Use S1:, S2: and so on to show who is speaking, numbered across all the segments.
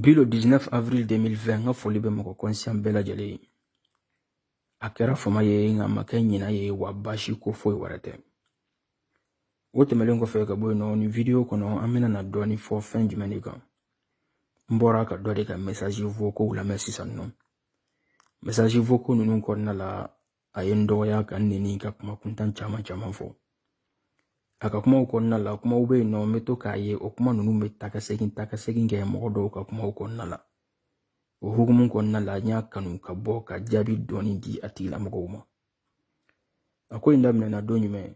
S1: Bi le 19 avril 2020 n ka foli bɛ mɔgɔ kɔnsiyan bɛɛ lajɛlen ye a kɛra fama ye nka ma kɛ ɲina ye wa baasi ko foyi wɛrɛ tɛ o tɛmɛlen kɔfɛ ka bɔ yen nɔ nin video kɔnɔ an bɛna na dɔɔni fɔ fɛn jumɛn de kan n bɔra ka dɔ de ka message vocaux lamɛn sisan nɔ message vocaux ninnu kɔnɔna la a ye n dɔgɔya ka n nɛni ka kuma kuntan caman caman fɔ a ka kumaw kɔnɔna la kumaw bɛ yen nɔ n bɛ to k'a ye o kuma ninnu bɛ ta ka segin ta ka segin kɛ mɔgɔ dɔw ka kumaw kɔnɔna la o hukumu kɔnɔna la n y'a kanu ka bɔ ka jaabi dɔɔni di a tigilamɔgɔw ma a ko in daminɛna don jumɛn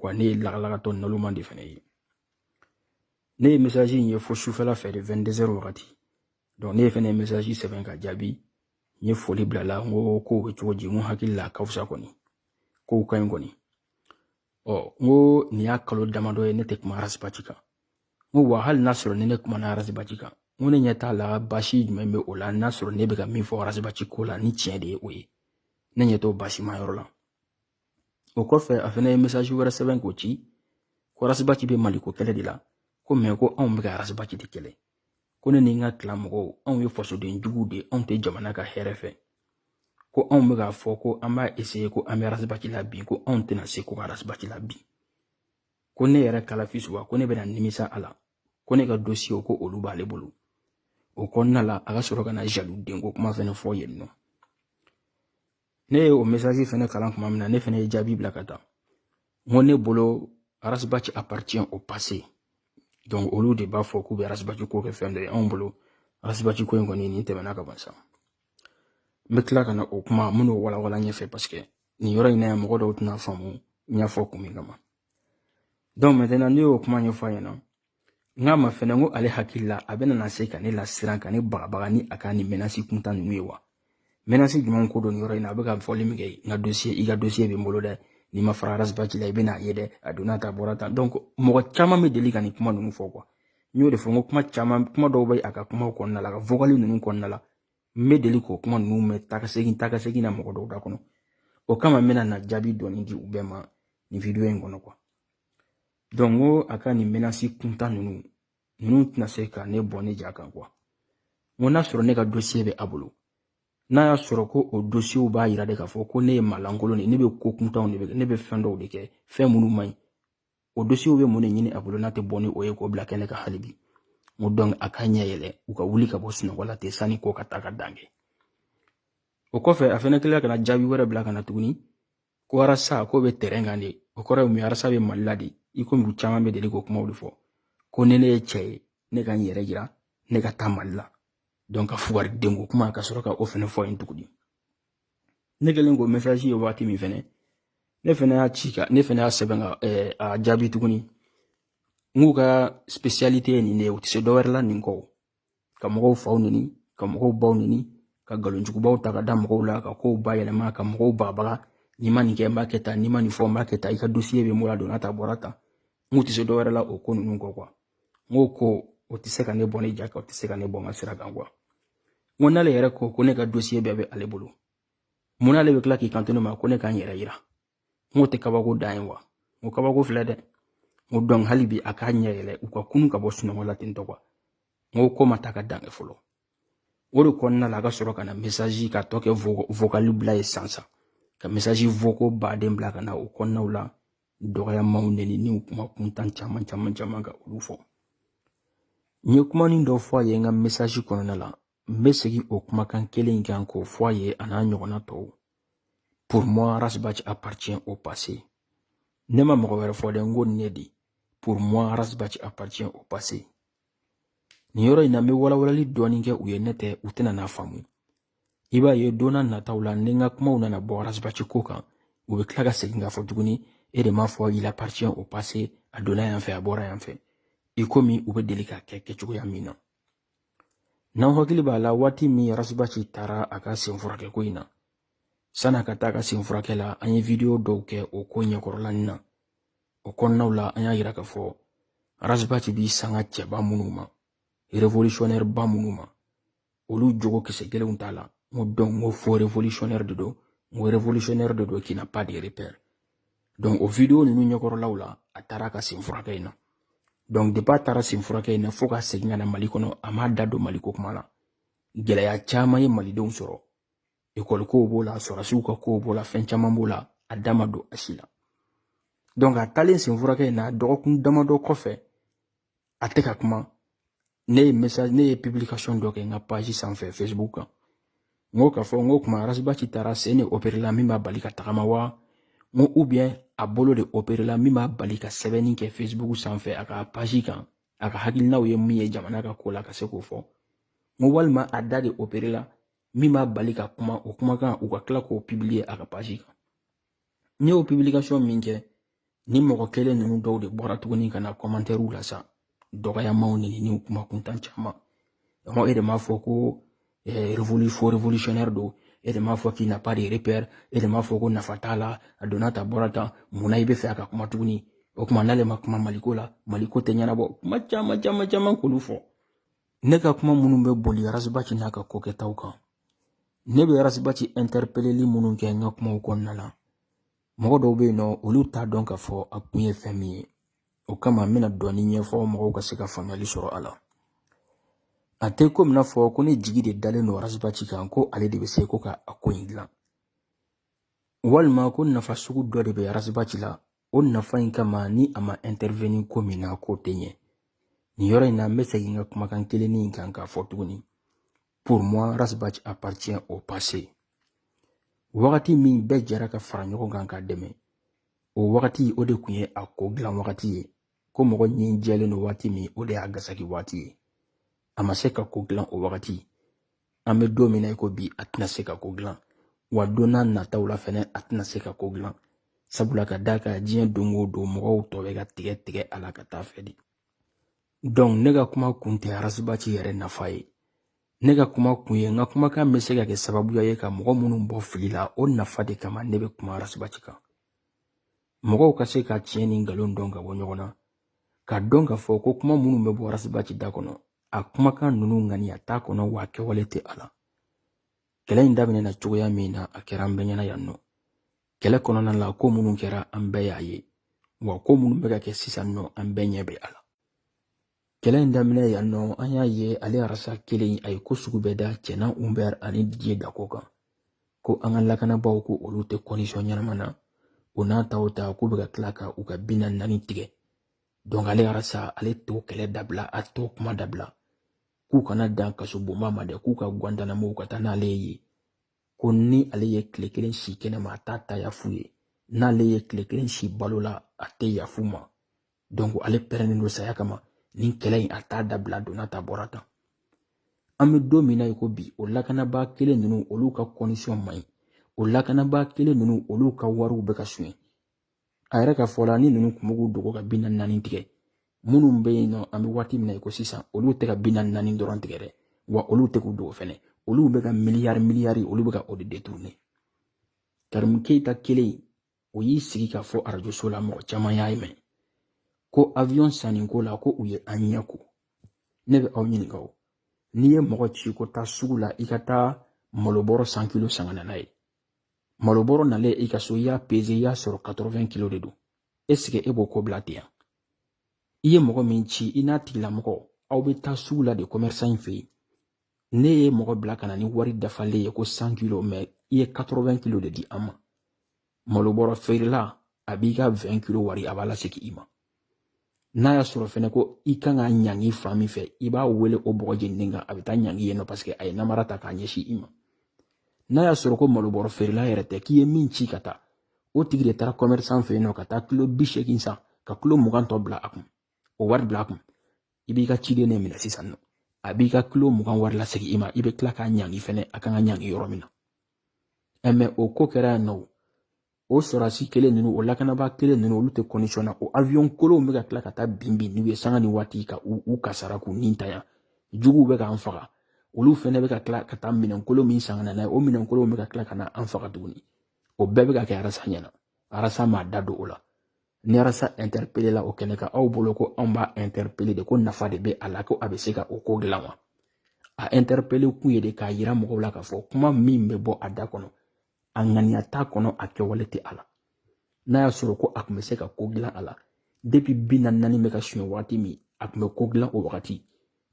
S1: wa ne ye lagalagatɔ naloman de fana ye ne ye mesaji in ye fo sufɛla fɛ de 22 heures wagati donc ne ye fana mesaji sɛbɛn ka jaabi n ye foli bila la n ko kow bɛ cogo di n ko hakili la ka fisa kɔni kow ka ɲi kɔni ɔ n ko nin y'a kalo damadɔ ye ne tɛ kuma Ras Bath kan n ko wa hali n'a sɔrɔ ni ne kumana Ras Bath kan n ko ne ɲɛ t'a la baasi jumɛn bɛ o la n'a sɔrɔ ne bɛ ka min fɔ Ras Bath ko la ni tiɲɛ de ye o ye ne ɲɛ t'o baasima yɔrɔ la o kɔfɛ a fana ye message wɛrɛ sɛbɛn k'o ci ko Ras Bath bɛ maliko kɛlɛ de la ko mais ko anw bɛ ka Ras Bath de kɛlɛ ko ne ni n ka clan mɔgɔw anw ye fasoden juguw de anw tɛ jamana ka hɛrɛ fɛ ko anw bɛ k'a fɔ ko an b'a eseye ko an bɛ Ras Bath labin ko anw tɛna se ko ka Ras Bath labin ko ne yɛrɛ kalafi suba ko ne bɛna nimisa a la ko ne ka dosiyew ko olu b'ale bolo o kɔnɔna la a ka sɔrɔ ka na jaliw denko kuma fɛnɛ fɔ yen nɔ ne ye o message fɛnɛ kalan kuma min na ne fɛnɛ ye jaabi bila ka taa n ko ne bolo Ras Bath appartient au passé donc olu de b'a fɔ k'u bɛ Ras Bath ko kɛ fɛn dɔ ye anw bolo Ras Bath ko in kɔni nin tɛmɛna ka ban sa n bɛ tila ka na o kuma minnu walawala ɲɛfɛ parce que nin yɔrɔ in na yan mɔgɔ dɔw tɛna faamu n y'a fɔ kun min kama donc maintenant ne y'o kuma ɲɛfɔ a ɲɛna n k'a ma fɛnɛ ko ale hakili la a bɛna na se ka ne lasiran ka ne bagabaga ni a ka nin mɛnasi kuntan ninnu ye wa mɛnasi jumɛn ko don nin yɔrɔ in na a bɛ ka fɔli min kɛ n ka dosiye i ka dosiye bɛ n bolo dɛ n'i ma fara Ras Bath la i bɛna a ye dɛ a donna tan a bɔra tan donc mɔgɔ caman bɛ deli ka nin kuma ninnu fɔ quoi n y'o de fɔ n ko kuma caman kuma dɔw bɛ a ka kumaw kɔnɔna la a ka vocal ninnu kɔnɔna la n bɛ deli k'o kuma ninnu mɛn takasegin takasegin na mɔgɔ dɔw da kɔnɔ o kama n bɛna na jaabi dɔɔni di u bɛɛ ma nin video in kɔnɔ quoi donc ko a ka nin menasi kuntan ninnu ninnu tɛna se ka ne bɔ ne ja kan quoi n ko n'a sɔrɔ ne ka dosiye bɛ a bolo n'a y'a sɔrɔ ko o dosiyew b'a yira de k'a fɔ ko ne ye maalankolon de ne bɛ ko kuntanw de kɛ ne bɛ fɛn dɔw de kɛ fɛn minnu man ɲi o dosiyew bɛ mun de ɲini a bolo n'a tɛ bɔ ni o ye k'o bila kɛnɛ kan hali bi n ko donc a ka ɲɛ yɛlɛ u ka wuli ka bɔ sunɔgɔ la ten sani ko ka taa ka dan kɛ o kɔfɛ a fana tilala ka na jaabi wɛrɛ bila ka na tuguni ko arasa ko bɛ tɛrɛn kan de o kɔrɔ ye mun ye arasa bɛ mali la de i komi u caman bɛ deli k'o kumaw de fɔ ko ni ne ye cɛ ye ne ka n yɛrɛ yira ne ka taa mali la donc ka fugari denko kuma ka sɔrɔ ka o fɛnɛ fɔ yen tuguni ne kɛlen k'o mɛsaji ye waati min fɛnɛ ne fɛnɛ y'a ci ka ne fɛnɛ y'a sɛbɛn ka eh, a jaabi tuguni n k'u ka spesiyalite ye nin de ye u tɛ se dɔwɛrɛ la nin kɔ ka mɔgɔw faw neni ka mɔgɔw baw neni ka nkalon jugubaw ta ka da mɔgɔw la ka kow bayɛlɛma ka mɔgɔw bagabaga n'i ma nin kɛ n b'a kɛ tan n'i ma nin fɔ n b'a kɛ tan i ka dosiye bɛ n bolo a donna tan a bɔra tan n k'u tɛ se dɔwɛrɛ la o ko ninnu kɔ kuwa n ko ko o tɛ se ka ne bɔ ne ja kan o tɛ se ka ne bɔ n ka sira kan kuwa n ko n'ale yɛrɛ ko ko ne ka dosiye bɛɛ bɛ ale bolo mun n'ale bɛ tila k'i kanto ne ma ko ne ka n yɛrɛ yira n ko tɛ kabako dan ye wa n ko kabako filɛ dɛ n ko donc hali bi a k'a ɲɛ yɛlɛ u ka kunun ka bɔ sunɔgɔ la ten tɔ kuwa n ko ko ma taa ka dan kɛ fɔlɔ o de kɔnɔna la a ka sɔrɔ ka na mesazi ka to ka vokali bila ye sansan ka mesazi voko baden bila ka na o kɔnɔnaw la dɔgɔyamaw neni ni kuma kuntan caman caman caman ka olu fɔ n ye kumanin dɔ fɔ a ye n ka mesazi kɔnɔna la n bɛ segin o kumakan kelen in kan k'o fɔ a ye a n'a ɲɔgɔnna tɔw pour moi ras bath appartient au passé ne ma mɔgɔ wɛrɛ fɔ dɛ n ko nin ne de pour moi ras bath appartient au passé nin yɔrɔ in na n bɛ walawalali dɔɔni kɛ u ye n'o tɛ u tɛna n'a faamu i b'a ye don na nataw la ni n ka kumaw nana bɔ ras bath ko kan u bɛ tila ka segin k'a fɔ tuguni e de m'a fɔ il appartient au passé a donna yan fɛ a bɔra yan fɛ i komi u bɛ deli k'a kɛ kɛcogoya min na n'aw hakili b'a la waati min ras bath taara a ka sen furakɛ ko in na sann'a ka taa a ka sen furakɛ la an ye wideyo dɔw kɛ o ko ɲɛkɔrɔlani na o kɔnɔnaw la an y'a yira k'a fɔ ras bath b'i sanga cɛba minnu ma révolutionnaire ba minnu ma olu jogo kisɛ kelen t'a la n ko donc n ko faux révolutionnaire de don n ko révolutionnaire de don qui n'a pas de repère o video ninnu ɲɛkɔrɔlaw la a taara a ka sen furakɛ in na donc depi a taara sen furakɛ in na fo ka segin ka na mali kɔnɔ a m'a da don maliko kuma la gɛlɛya caman ye malidenw sɔrɔ ekɔli kow b'o la sɔrɔdasiw ka kow b'o la fɛn caman b'o la a da ma don a si la donc a taalen sen furakɛ in na dɔgɔkun damadɔ kɔfɛ a tɛ ka kuma ne ye message ne ye publication dɔ kɛ n ka page sanfɛ facebook kan n ko k'a fɔ n ko kuma ras bath taara sen de opere la min b'a bali ka tagama wa n ko ou bien a bolo de opere la min b'a bali ka sɛbɛnni kɛ facebook sanfɛ a ka page kan a ka hakilinaw ye min ye jamana ka ko la ka se k'o fɔ n ko walima a da de opere la min b'a bali ka kuma o kumakan u ka tila k'o publier a ka page kan ne y'o publication min kɛ ni mɔgɔ kelen ninnu dɔw de bɔra tuguni ka na kɔmantɛriw la sa dɔgɔyamaw ni ni kuma kuntan caman mɔgɔ e de m'a fɔ ko eh, révolu faux révolutionnaire don e de m'a fɔ k'il n'a pas de repère e de m'a fɔ ko nafa t'a la a donna tan bɔra tan munna i bɛ fɛ a ka kuma tuguni o tuma n'ale ma kuma maliko la maliko tɛ ɲɛnabɔ kuma caman caman caman k'olu fɔ ne ka kuma minnu bɛ boli arasibati n'a ka ko kɛtaw kan ne bɛ arasibati ɛntɛrepeleli minnu kɛ n ka kumaw kɔnɔna na mɔgɔ dɔw bɛ yen nɔ olu t'a dɔn k'a fɔ a kun ye fɛn min ye o kama n bɛna dɔɔni ɲɛfɔ mɔgɔw ka se ka faamuyali sɔrɔ a la a tɛ komi n'a fɔ ko ne jigi de dalen don arasibati kan ko ale de bɛ se ko ka a ko in dilan walima ko nafa sugu dɔ de bɛ arasibati la o nafa in kama ni a ma ɛntɛrɛveni ko min na k'o tɛ ɲɛ nin yɔrɔ in na n bɛ segin ka kumakan kelen in kan k'a fɔ tuguni pour moi ras bath appartient au passé wagati min bɛɛ jɛra ka fara ɲɔgɔn kan k'a dɛmɛ o wagati o de tun ye a ko dilan wagati ye ko mɔgɔ ɲin jɛlen don waati min o de y'a gasaki waati ye a ma se ka ko dilan o wagati an bɛ don min na i ko bi a tɛna se ka ko dilan wa don nataw la fɛnɛ a tɛna se ka ko dilan sabula ka d'a kan diɲɛ don o don mɔgɔw tɔ bɛ ka tigɛ tigɛ a la ka t'a fɛ de donc ne ka kuma kun tɛ arasibati yɛrɛ nafa ye ne ka kuma kun ye n ka kumakan bɛ se ka kɛ sababuya ye ka mɔgɔ minnu bɔ fili la o nafa de kama ne bɛ kuma arasibati kan mɔgɔw ka se ka tiɲɛ ni nkalon dɔn ka bɔ ɲɔgɔn na k'a dɔn k'a fɔ ko kuma minnu bɛ bɔ arasibaci da kɔnɔ a kumakan ninnu ŋaniya t'a kɔnɔ wa kɛwale tɛ a la kɛlɛ in daminɛna cogoya min na a kɛra an bɛɛ ɲɛna yan nɔ kɛlɛ kɔnɔna la ko minnu kɛra an bɛɛ y'a ye wa ko minnu bɛ ka kɛ sisan nɔ an bɛɛ ɲɛ bɛ a la kɛlɛ in daminɛ yan nɔ an y'a ye ale arasa kelen a ye ko sugu bɛɛ da cɛman ubɛr ani didiye dako kan ko an ka lakanabaaw ko olu tɛ kɔndisiyɔn ɲɛnama na o n'a ta o ta k'u bɛ ka tila ka u ka bi naani naani tigɛ donc ale arasa ale t'o kɛlɛ dabila a t'o kuma dabila k'u kana dan kasobonba ma dɛ k'u ka gwantanamo ka taa n'ale ye ko ni ale ye tile kelen si kɛnɛma a t'a ta yaf'u ye n'ale ye tile kelen si balo la a tɛ yaf'u ma donc ale pɛrɛnnen don saya kama nin kɛlɛ in a t'a dabila donna tan bɔra tan an bɛ don min na i ko bi o lakanabaa kelen ninnu olu ka kɔndisiyɔn man ɲi o lakanabaa kelen ninnu olu ka wariw bɛ ka suɲɛ a yɛrɛ ka fɔ la ni ninnu kun bɛ k'u dogo ka bi naani naani tigɛ minnu bɛ yen nɔ an bɛ waati min na i ko sisan olu tɛ ka bi naani naani dɔrɔn tigɛ dɛ wa olu tɛ k'u dogo fɛnɛ olu bɛ ka miliyari miliyari olu bɛ ka o de deturune karimu keyita kelen o y'i sigi k'a fɔ arajoso la mɔgɔ caman y'a mɛn ko avion sanni ko la ko u ye an ɲɛ ko ne bɛ aw ɲininka o n'i ye mɔgɔ ci ko taa sugu la i ka taa malobɔrɔ san kilo san ka na n'a ye malobɔrɔ nalen i ka so i y'a peze i y'a sɔrɔ 80 kilo de don esike e b'o ko bila ten yan i ye mɔgɔ min ci i n'a tigilamɔgɔ aw bɛ taa sugu la de kɔmɛrisan in fɛ yen ne ye mɔgɔ bila ka na ni wari dafalen ye ko san kilo mɛ i ye katɔrɔwɛn kilo de di an ma malo bɔrɔ feerela a b'i ka wɛn kilo wari a b'a lasegin i ma n'a y'a sɔrɔ fɛnɛ ko i kan ka ɲangi fan min fɛ i b'a wele o bɔgɔ jeninen kan a bɛ taa ɲangi yen nɔ paseke a ye namara ta k'a ɲɛsin i ma n'a y'a sɔrɔ ko malo bɔrɔ feerela yɛrɛ tɛ k'i ye min ci ka taa o tigi de taara kɔmɛrisan fɛ yen nɔ ka taa kilo bi seegin san ka kilo mugan tɔ bila a kun o wari bila a kun i b'i ka ciden ne minɛ sisan nɔ a b'i ka kilo mugan wari lasegin i ma i bɛ tila k'a ɲangi fɛnɛ a kan ka ɲangi yɔrɔ min na ɛ mɛ o ko kɛra yan nɔ o sɔrɔdasi kelen ninnu o lakanabaa kelen ninnu olu tɛ kɔndisɔn na o awiyɔn kolonw bɛ ka tila ka taa bin bin n'u ye sanga ni waati ka u u kasara k'u nitanya juguw bɛ k'an faga olu fɛnɛ bɛ ka tila ka taa minɛnkolon min san ka na n'a ye o minɛnkolonw bɛ ka tila ka na an faga tuguni o bɛɛ bɛ ka kɛ arasa ɲɛna arasa m'a da don o la ni arasa ɛntɛrepelela o kɛnɛ kan aw bolo ko anw b'a ɛntɛrepele de ko nafa de bɛ a la ko a bɛ se ka o ko dilan wa a ɛntɛrepele kun ye de k'a yira mɔgɔw la k'a fɔ kuma min bɛ bɔ a da kɔnɔ a ŋaniya t'a kɔnɔ a kɛwale tɛ a la n'a y'a sɔrɔ ko a tun bɛ se ka ko dilan a la depi bi naani naani bɛ ka suɲɛ waati min a tun bɛ ko dilan o wagati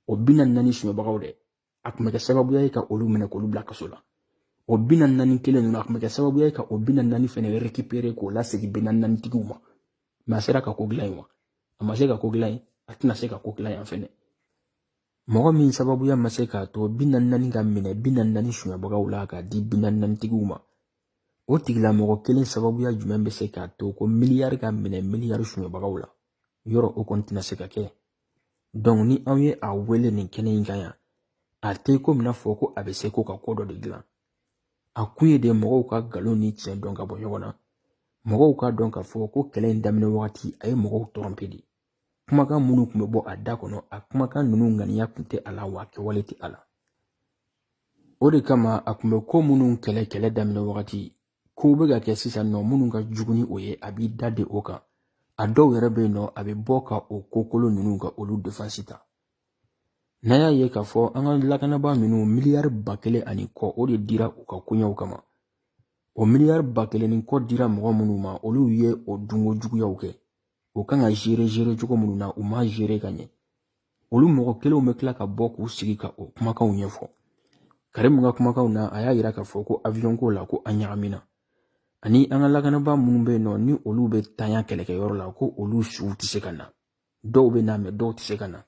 S1: o bi naani naani suɲɛbagaw dɛ a kun bɛ kɛ sababuya ye ka olu minɛ k'olu bila kaso la o bi naani naani kelen ninnu a kun bɛ kɛ sababuya ye ka o bi naani naani fɛnɛ rekipere k'o lasegin bi naani naani tigiw ma mɛ a sera ka ko dilan yen wa a ma se ka ko dilan yen a tɛna se ka ko dilan yan fɛnɛ mɔgɔ min sababuya ma se k'a to bi naani naani ka minɛ bi naani naani sonyabagaw la k'a di bi naani naani tigiw ma o tigilamɔgɔ kelen sababuya jumɛn bɛ se k'a to ko miliyari ka minɛ miliyari sonyabagaw la yɔrɔ o kɔni tɛna se ka kɛ ni an ye a wele nin kɛnɛ in kan yan a tɛ komi n'a fɔ ko a bɛ se ko ka ko dɔ de dilan a kun ye de mɔgɔw ka nkalon ni tiɲɛ dɔn ka bɔ ɲɔgɔn na mɔgɔw k'a dɔn k'a fɔ ko kɛlɛ in daminɛ wagati a ye mɔgɔw tɔrɔnpe de kumakan minnu tun bɛ bɔ a da kɔnɔ a kumakan ninnu ŋaniya tun tɛ a la wa kɛwale tɛ a la o de kama a tun bɛ ko minnu kɛlɛ kɛlɛ daminɛ wagati kow bɛ ka kɛ sisan nɔ minnu ka jugu ni o ye a b'i da de o kan a dɔw yɛrɛ bɛ yen nɔ a bɛ bɔ ka o ko kolon ninnu ka olu defansi ta n'an y'a ye k'a fɔ an ka lakanabaa ninnu miliyari ba kelen ani kɔ o de dira u ka koɲɛw kama o miliyari ba kelen ni kɔ dira mɔgɔ minnu ma olu ye o dunko juguyaw kɛ o kan ka zere zere cogo minnu na u ma zere ka ɲɛ olu mɔgɔ kelenw bɛ tila ka bɔ k'u sigi ka o kumakanw ɲɛfɔ karimu ka kumakanw na a y'a yira k'a fɔ ko aviyɔn ko la ko an ɲagamina ani an ka lakanabaa minnu bɛ yen nɔ ni olu bɛ to kɛlɛkɛyɔrɔ la ko olu suw tɛ se ka na dɔw bɛ na mɛ dɔw tɛ se ka na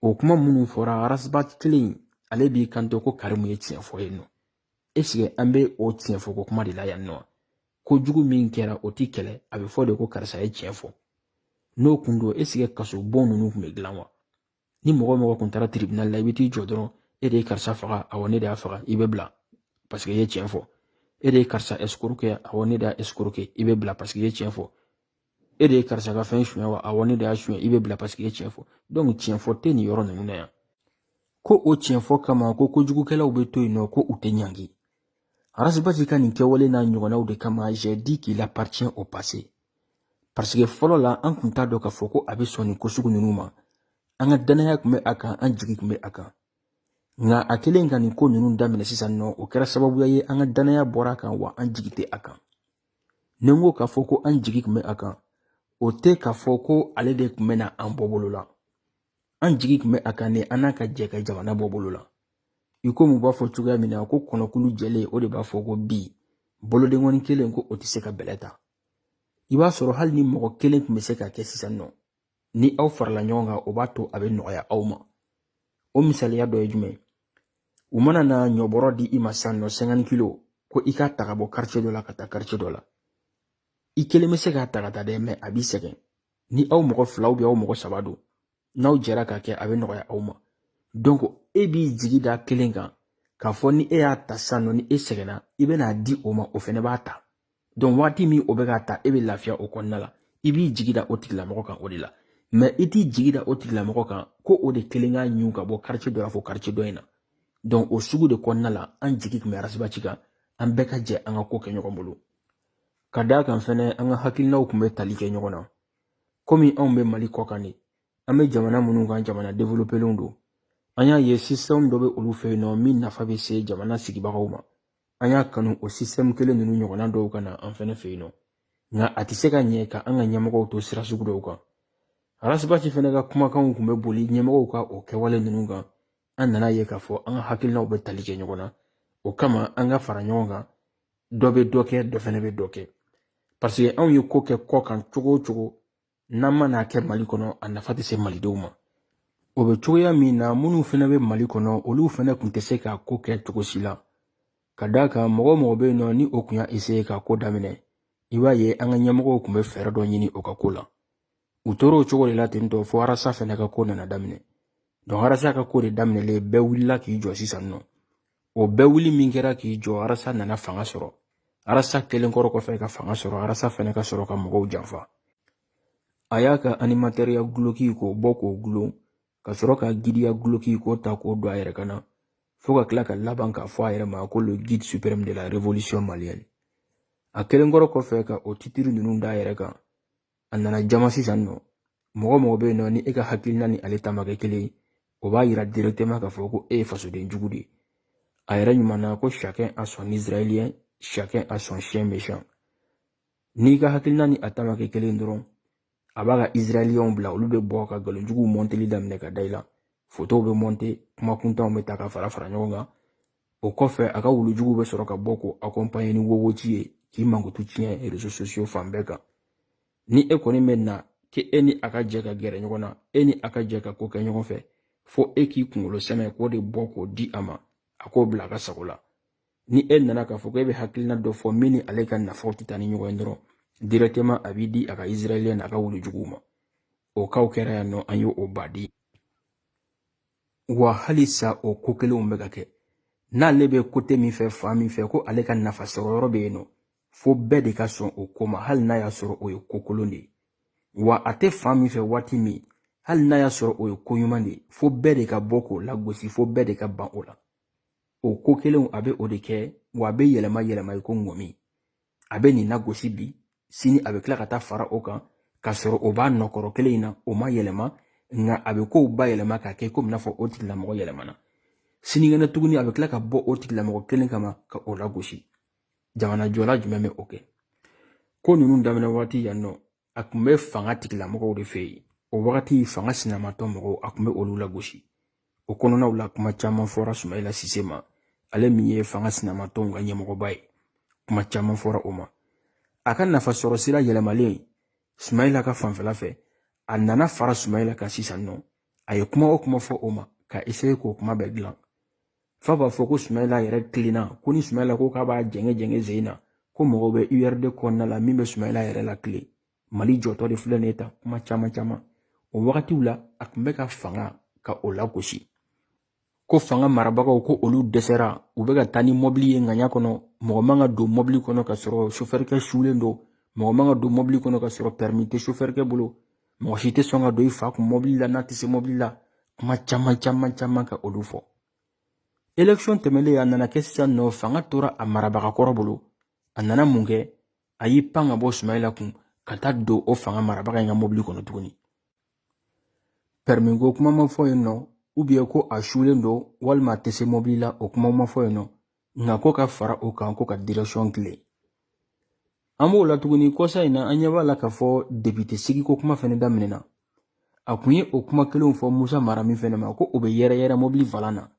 S1: o kuma minnu fɔra ras bath kelen ale b'i kanto ko karimu ye tiɲɛ fɔ yen nɔ an bɛ o tiɲɛ fɔ ko kuma de la yan wa kojugu min kɛra o tɛ kɛlɛ a bɛ fɔ de ko karisa ye tiɲɛ fɔ n'o kun don eseke kasobon ninnu tun bɛ dilan wa ni mɔgɔ o mɔgɔ kun taara tiribinali la i bɛ t'i jɔ dɔrɔn e de ye karisa faga awɔ ne de y'a faga i bɛ bila paseke i ye tiɲɛ fɔ e de ye karisa ɛsikoroke awɔ ne de y'a ɛsikoroke i bɛ bila paseke i ye tiɲɛ fɔ e de ye karisa ka fɛn suɲɛ wa awɔ ne de y'a suɲɛ i bɛ bila paseke i ye tiɲɛ fɔ tiɲɛ fɔ tɛ nin yɔrɔ ninnu na yan ko o tiɲɛ fɔ kama ko kojugukɛlaw bɛ to yen nɔ ko u tɛ ɲangi ras bath ka nin kɛwale n'a ɲɔgɔnnaw de kama j'ai dit qu'il appartient au passé parce que fɔlɔ la an tun t'a dɔn k'a fɔ ko a bɛ sɔn nin ko sugu ninnu ma an ka danaya tun bɛ a kan an jigi tun bɛ a kan nka a kɛlen ka nin ko ninnu daminɛ sisan nɔ o kɛra sababuya ye an ka danaya bɔra a kan wa an jigi tɛ a kan ni n ko k'a fɔ ko an jigi tun bɛ a kan o tɛ k'a fɔ ko ale de tun bɛ na an bɔ bolo la an jigi tun bɛ a kan ni an n'a ka jɛ ka jamana bɔ bolo la i komi u b'a fɔ cogoya min na ko kɔnɔkulu jɛlen o de b'a fɔ ko bii bolodenkɔni kelen ko o tɛ se ka bɛlɛ ta i b'a sɔrɔ hali ni mɔgɔ kelen tun bɛ se k'a kɛ sisan nɔ ni aw farala ɲɔgɔn kan o b'a to a bɛ nɔgɔya aw ma o misaliya dɔ ye jumɛn u mana na ɲɔbɔrɔ di i ma san nɔ cinquante kilo ko i k'a ta ka bɔ karice dɔ la ka taa karice dɔ la i kelen bɛ se k'a ta ka taa dɛ mɛ a b'i sɛgɛn ni aw mɔgɔ fila ou bien aw mɔgɔ saba don n'aw jɛra k'a kɛ a bɛ nɔgɔya aw ma donc e b'i jigi da kelen kan k'a fɔ ni e y'a ta san nɔ ni e sɛgɛnna i bɛna a di o ma o fɛnɛ b'a ta donc waati min o bɛ k'a ta e bɛ lafiya o kɔnɔna la i b'i jigi da o tigilamɔgɔ kan o de la mɛ i t'i jigi da o tigilamɔgɔ kan ko o de kelen k'a ɲun ka bɔ karice dɔ la fo karice dɔ in na donc o sugu de kɔnɔna la an jigi tun bɛ ras bath kan an bɛɛ ka jɛ an ka ko kɛ ɲɔgɔn bolo ka d'a kan fɛnɛ an ka hakilinaw tun bɛ tali kɛ ɲɔgɔn na komi anw bɛ mali kɔ kan de an bɛ jamana minnu kan jamana developelenw don an y'a ye système dɔ bɛ olu fɛ yen nɔ min nafa bɛ se jamana sigibagaw ma an y'a kanu o système kelen ninnu ɲɔgɔnna dɔw ka na an fɛnɛ fɛ yen nɔ nka a tɛ se ka ɲɛ ka an ka ɲɛmɔgɔw to sira sugu dɔw kan ras bath fɛnɛ ka kumakanw tun bɛ boli ɲɛmɔgɔw ka o kɛwale ninnu kan an nana a ye k'a fɔ an ka hakilinaw bɛ tali kɛ ɲɔgɔn na o kama an ka fara ɲɔgɔn kan dɔ bɛ dɔ kɛ dɔ fɛnɛ bɛ dɔ kɛ paseke anw ye ko kɛ kɔ kan cogo o cogo n'an ma n'a kɛ mali kɔnɔ a nafa tɛ se malidenw ma o bɛ cogoya min na minnu fana bɛ mali kɔnɔ olu fana tun tɛ se ka ko kɛ cogo si la ka d'a kan mɔgɔ o mɔgɔ bɛ yen nɔ ni o tun y'a eseye ka ko daminɛ i b'a ye an ka ɲɛmɔgɔw tun bɛ fɛɛrɛ dɔ ɲini o ka ko la u tora o cogo de la ten tɔ fo arasa fana ka ko nana daminɛ don arasa ka ko de daminɛlen bɛɛ wulila k'i jɔ sisan nɔ o bɛɛ wuli min kɛra k'i jɔ arasa nana fanga sɔrɔ arasa kɛlen kɔrɔ kɔfɛ ka fanga sɔrɔ arasa fana ka sɔrɔ ka mɔgɔw janfa a y'a ka animatɛriya guloki k'o bɔ k'o gulon ka sɔrɔ ka gidiya guloki k'o ta k'o don a yɛrɛ kan na fo ka tila ka laban k'a fɔ a yɛrɛ ma ko le guide suprême de la révolution malienne a kɛlen kɔrɔ kɔfɛ ka o titiri ninnu d'a yɛrɛ kan a nana jama sisan nɔ mɔgɔ o mɔgɔ bɛ yen nɔ ni e ka hakilina ni ale ta ma kɛ kelen ye o b'a yira directement k'a fɔ ko e ye fasoden jugu de ye a yɛrɛ ɲuman na ko chacun a son israélien chacun a son chien méchant n'i ka hakilina ni a ta ma kɛ kelen dɔrɔn a b'a ka israéliyɛnw bila olu bɛ bɔ ka nkalonjuguw mɔnteli daminɛ ka da i la fotow bɛ mɔnte kuma kuntanw bɛ ta ka fara fara ɲɔgɔn kan o kɔfɛ a ka wulujuguw bɛ sɔrɔ ka bɔ k'o akɔnpaɲe ni wowoji ye k'i mankutu tiɲɛ rezo sosiyo fan bɛɛ kan ni e kɔni bɛ na kɛ e ni a ka jɛ ka gɛrɛ ɲɔgɔn na e ni a ka jɛ ka ko kɛ ɲɔgɔn fɛ fo e k'i kunkolo sɛmɛ k'o de bɔ k'o di a ma a k'o bila a ka sago la ni e nana k'a fɔ ko e bɛ hakilina dɔ fɔ min ni ale ka nafaw tɛ taa ni ɲɔgɔn ye dɔrɔn directement a b'i di a ka israɛliyɛnw n'a ka wulujuguw ma o kow kɛra yan nɔ an y'o o baden wa halisa o ko kelenw bɛ ka kɛ n'ale bɛ kote min fɛ fan min fɛ ko ale ka nafa sɔrɔ yɔrɔ bɛ yen nɔ fo bɛɛ de ka sɔn o ko ma hali n'a y'a sɔrɔ o ye ko kolon de ye wa a tɛ fan min fɛ waati min hali n'a y'a sɔrɔ o ye ko ɲuman de ye fo bɛɛ de ka bɔ k'o lagosi fo bɛɛ de ka ban o la o ko kelenw a bɛ o de kɛ wa a bɛ yɛlɛma yɛlɛma i ko ŋɔmi a bɛ nin lagosi bi sini a bɛ tila ka taa fara o kan k'a sɔrɔ o b'a nɔkɔrɔ kelen in na o ma yɛlɛma nka a bɛ kow bayɛlɛma k'a kɛ komi n'a fɔ o tigilamɔgɔ yɛlɛmana sinikɛnɛ tuguni a bɛ tila ka bɔ o tigilamɔgɔ kelen kama ka o lagosi jamana jɔla jumɛn bɛ o kɛ ko ninnu daminɛ waati yan nɔ a tun bɛ fanga tigilamɔgɔw de fɛ yen o wagati fanga sinamatɔn mɔgɔw a tun bɛ olu lagosi o kɔnɔnaw la kuma caman fɔra sumayila sise ma ale min ye fanga sinamatɔnw ka ɲɛmɔgɔba ye kuma caman fɔra o ma a ka nafasɔrɔ sira yɛlɛmalen sumayila ka fanfɛla fɛ a nana fara sumayila kan sisan nɔ a ye kuma o kuma fɔ o ma k'a eseye k'o kuma bɛɛ dilan fa b'a fɔ ko sumayila yɛrɛ kilenna ko ni sumayila ko k'a b'a jɛngɛ jɛngɛ zen na ko mɔgɔw bɛ urd kɔnɔna la min bɛ sumayila yɛrɛ la kile mali jɔtɔ de filɛ nin ye tan kuma caman caman o wagatiw la a tun bɛ ka fanga ka o lagosi ko fanga marabagaw ko olu dɛsɛra u bɛ ka taa ni mɔbili ye ŋaɲa kɔnɔ mɔgɔ man ka don mɔbili kɔnɔ ka sɔrɔ sofɛrikɛ sulen don mɔgɔ man ka don mɔbili kɔnɔ ka sɔrɔ pɛrimi tɛ sofɛrikɛ bolo mɔgɔ si tɛ sɔn ka don i fa kun mɔbili la n'a tɛ se mɔbili la kuma caman caman caman ka olu fɔ election tɛmɛnlen a nana kɛ sisan nɔ fanga tora a marabaga kɔrɔ bolo a nana mun kɛ a y'i pan ka bɔ sumayila kun ka taa don o fanga marabaga in ka mɔbili kɔnɔ tuguni pɛrimiko kuma ma fɔ yen nɔ ko a sulen don walima a tɛ se mɔbili la o kuma ma fɔ yen nɔ nka ko ka fara o kan ko ka direction kile an b'o la tuguni kɔsa in na an ɲɛ b'a la k'a fɔ depite sigiko kuma fɛnɛ daminɛna a kun ye o kuma kelenw fɔ musa mara min fɛnɛ ma ko o bɛ yɛrɛyɛrɛ mɔbili valan na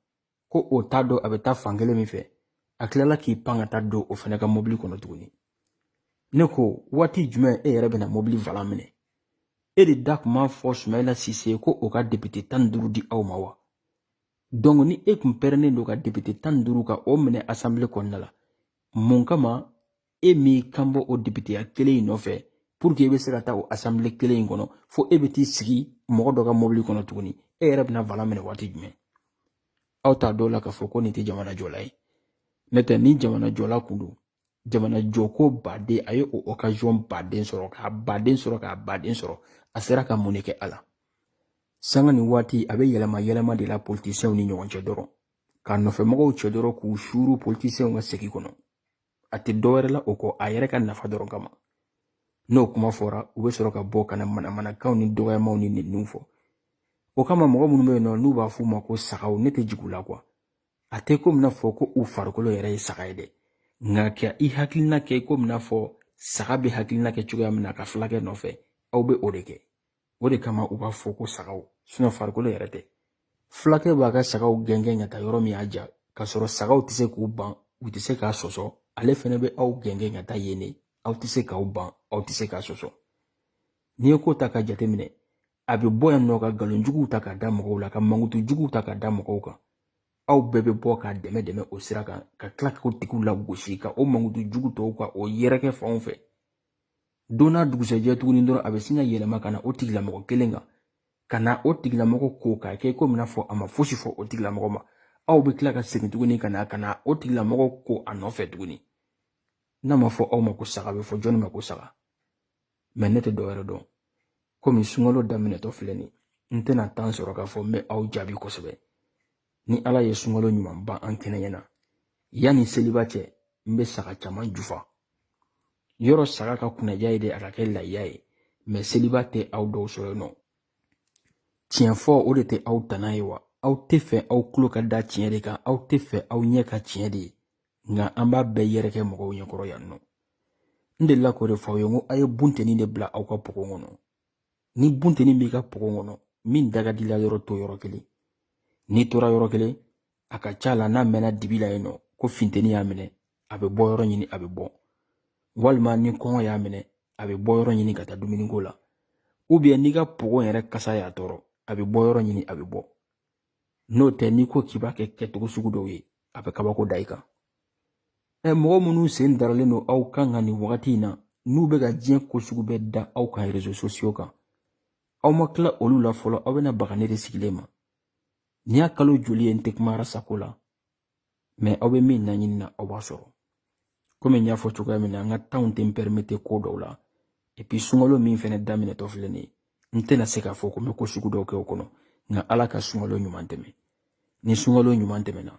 S1: ko o t'a dɔn a bɛ taa fan kelen min fɛ a tilala k'i pan ka taa don o fɛnɛ ka mɔbili kɔnɔ tuguni ne ko waati jumɛn e yɛrɛ bɛna mɔbili valan minɛ e de da tun b'a fɔ sumayila sise ko o ka depite tan ni duuru di aw ma wa donc ni e tun pɛrɛnnen don ka depite tan ni duuru ka o minɛ asanbile kɔnɔna la mun kama e m'i kanbɔ o depiteya kelen in nɔfɛ pour que e bɛ se ka taa o asanbile kelen in kɔnɔ fo e bɛ t'i sigi mɔgɔ dɔ ka mɔbili kɔnɔ tuguni e yɛrɛ bɛna valan minɛ waati jumɛn aw t'a dɔw la k'a fɔ ko nin tɛ jamana jɔla ye n'o tɛ ni jamana jɔla kun don jamana jɔko baden a ye o okaziyɔn baden sɔrɔ k'a baden sɔrɔ k'a baden sɔrɔ a sera ka mun de kɛ a la sanga ni waati a bɛ yɛlɛma yɛlɛma de la politisiyɛnw ni ɲɔgɔn cɛ dɔrɔn ka nɔfɛmɔgɔw cɛ dɔrɔn k'u suuru politisiyɛnw ka segi kɔnɔ a tɛ dɔwɛrɛ la o kɔ a yɛrɛ ka nafa dɔrɔn kama n'o kuma fɔra u bɛ sɔrɔ ka bɔ ka na manamanakanw ni dɔgɔyamaw ni ninnu fɔ o kama mɔgɔ minnu bɛ yen nɔ n'u b'a f'u ma ko sagaw ne tɛ jigin u la quoi a tɛ komi n'a fɔ ko u farikolo yɛrɛ ye saga ye dɛ nka ka i hakilina kɛ i komi n'a fɔ saga bɛ hakilina kɛ cogoya min na ka fulakɛ nɔfɛ aw bɛ o de kɛ o de kama u b'a fɔ ko sagaw farikolo yɛrɛ tɛ fulakɛ b'a ka sagaw gɛngɛn ka taa yɔrɔ min y'a diya k'a sɔrɔ sagaw tɛ se k'u ban u tɛ se k'a sɔsɔ ale fɛnɛ bɛ aw gɛngɛn ka taa yen de aw tɛ se k'aw ban aw tɛ se k'a sɔsɔ n'i ye ko ta ka jateminɛ a bɛ bɔ yan nɔ ka nkalon juguw ta ka da mɔgɔw la ka mankutu juguw ta ka da mɔgɔw kan aw bɛɛ bɛ bɔ ka dɛmɛ dɛmɛ o sira kan ka tila k'o tigiw lagosi ka o mankutu jugu tɔw ka o yɛrɛkɛ fanw fɛ don n'a dugusɛjɛ tuguni dɔrɔn a bɛ sin ka yɛlɛma ka na o tigilamɔgɔ kelen kan ka na o tigilamɔgɔ ko k'a kɛ komi n'a fɔ a ma fosi fɔ o tigilamɔgɔ ma aw bɛ tila ka segin tuguni ka na ka na o tigilamɔgɔ ko a nɔfɛ tuguni n'a ma fɔ aw ma ko saga bɛ fɔ jɔnni ma ko saga mɛ ne tɛ dɔwɛrɛ dɔn komi sunkalo daminɛtɔ filɛ nin n tɛna tan sɔrɔ k'a fɔ n bɛ aw jaabi kosɛbɛ ni ala ye sunkalo ɲuman ban an kɛnɛ ɲɛna yanni seliba cɛ n bɛ saga caman jufa yɔrɔ saga ka kunnaja ye de a ka kɛ layiya ye mɛ seliba tɛ aw dɔw sɔrɔ yen nɔ tiɲɛ fɔ o de tɛ aw tana ye wa aw tɛ fɛ aw tulo ka da tiɲɛ de kan aw tɛ fɛ aw ɲɛ ka tiɲɛ de ye nka an b'a bɛɛ yɛrɛ kɛ mɔgɔw ɲɛkɔrɔ yan nɔ n delila k'o de fɔ aw ye n ko aw ye bunteni de bila aw ka pogo kɔnɔ ni bunteni b'i ka pogo kɔnɔ min da ka d'i la yɔrɔ to yɔrɔ kelen n'i tora yɔrɔ kelen a ka ca la n'a mɛnna dibi la yen nɔ ko finteni y'a minɛ a bɛ bɔ yɔrɔ ɲini a bɛ bɔ walima ni kɔngɔ y'a minɛ a bɛ bɔ yɔrɔ ɲini ka taa dumuniko la ubiyɛn n'i ka pogo yɛrɛ kasa y'a tɔɔrɔ a bɛ bɔ yɔrɔ ɲini a bɛ bɔ n'o tɛ n'i ko k'i b'a kɛ kɛcogo sugu dɔw ye a bɛ kabako da i kan ɛ mɔgɔ minnu sen daralen don aw kan ka nin wagati in na n'u bɛ ka diɲɛ ko sugu bɛɛ da aw kan rezo sosiyo kan aw ma tila olu la fɔlɔ aw bɛna baga ne de sigilen ma nin y'a kalo joli ye n tɛ kuma arasako la mɛ aw bɛ min naɲini na aw b'a sɔrɔ komi n y'a fɔ cogoya min na an ka tanw tɛ pɛrimete ko dɔw la epi sunkalo min fɛnɛ daminɛtɔ filɛ nin ye n tɛna se k'a fɔ ko n bɛ ko sugu dɔw kɛ o kɔnɔ nka ala ka sunkalo ɲuman tɛmɛ ni sunkalo ɲuman tɛmɛna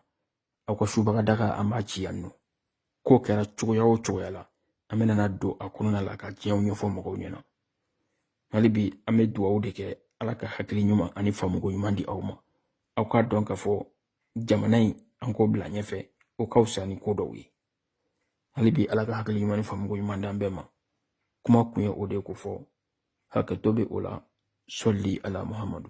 S1: aw ka subaga daga an b'a ci yan nɔ k'o kɛra cogoya o cogoya la an bɛna na don a kɔnɔna la ka tiɲɛw ɲɛfɔ mɔgɔw ɲɛna hali bi an bɛ dugawu de kɛ ala ka hakili ɲuman ani faamuko ɲuman di aw ma aw k'a dɔn k'a fɔ jamana in an k'o bila ɲɛfɛ o ka fisa ni ko dɔw ye hali bi ala ka hakili ɲuman ni faamuko ɲuman d'an bɛɛ ma kuma kun ye o de ye ko fɔ hakɛto bɛ o la sali ala muhamadu